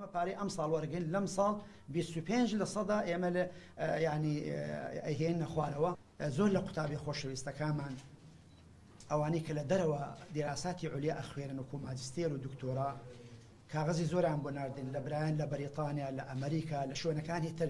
ئێمە پارەی ئەم ساڵ وەرگین لەم ساڵ 25 لە سەدا ئێمە لە ینی ئەهێن نەخوارەوە زۆر لە قوتابی خۆشەویستەکانمان ئەوانەی کە لە دەرەوە دیراساتی عولیا ئەخوێنن و کۆماجستێر و دکتۆرا کاغزی زۆران بۆ ناردن لە برایان لە بەریتانیا لە ئەمریکا لە شوێنەکانی تر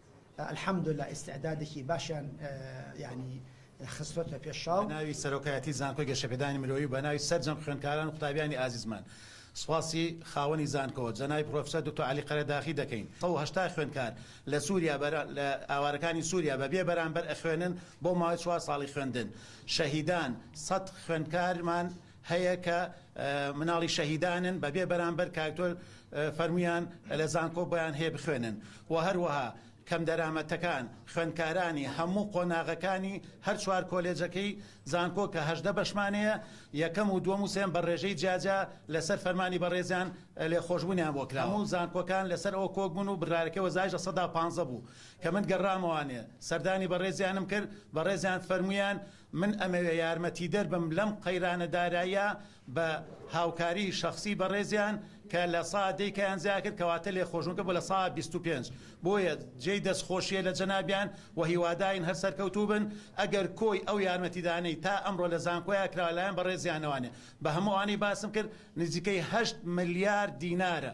الحمدللە ئیستعدادێکی باشیان یانی خستۆتە پێش چاو. بەناوی سەرۆکایەتی زانکۆی گەشەپێدانی مرۆیی و بەناوی سەرجەم خوێندکاران و قوتابیانی ئازیزمان سوپاسی خاوەنی زانکۆ جەنابی پرۆفیسۆر دکتۆر عەلی قەرەداخی دەکەین سەد و هەشتا خوێندکار لە سوریا لە ئاوارەکانی سوریا بە بێ بەرامبەر ئەخوێنن بۆ ماوەی چوار ساڵی خوێندن شەهیدان سەد خوێندکارمان هەیە کە مناڵی شەهیدانن بە بێ بەرامبەر کاکتۆر فەرمویان لە زانکۆ بۆیان هەیە بخوێنن و هەروەها کەم دەرامەتەکان خوێندکارانی هەموو قۆناغەکانی هەر چوار کۆلێجەکەی زانکۆ کە هەژدە بەشمانەیە یەکەم و دووەم و سێم بە ڕێژەی جیاجیا لەسەر فەرمانی بەڕێزیان لێ خۆشبوونیان بۆ کرا هەموو زانکۆکان لەسەر ئەوە کۆک بوون و بڕارەکەی وەزایش لە سەدا پانزە بوو کە من گەڕامەوانێ سەردانی بەڕێزیانم کرد بەڕێزیان فەرمویان من ئەمەوێ یارمەتیدەر بم لەم قەیرانە داراییە بە هاوکاری شەخسی بەڕێزیان کە لە سا دەی کەیان زیا کرد کەواتە لێ خۆشم کە بۆ لە سا بیست و پێنج بۆیە جێی دەست خۆشیە لە جەنابیان و هیواداین هەر سەرکەوتوو بن ئەگەر کۆی ئەو یارمەتیدانەی تا ئەمڕۆ لە زانکۆیا کراوە لایەن بەڕێزیانەوانێ بە هەموو ئەوانەی باسم کرد نزیکەی هەشت ملیار دینارە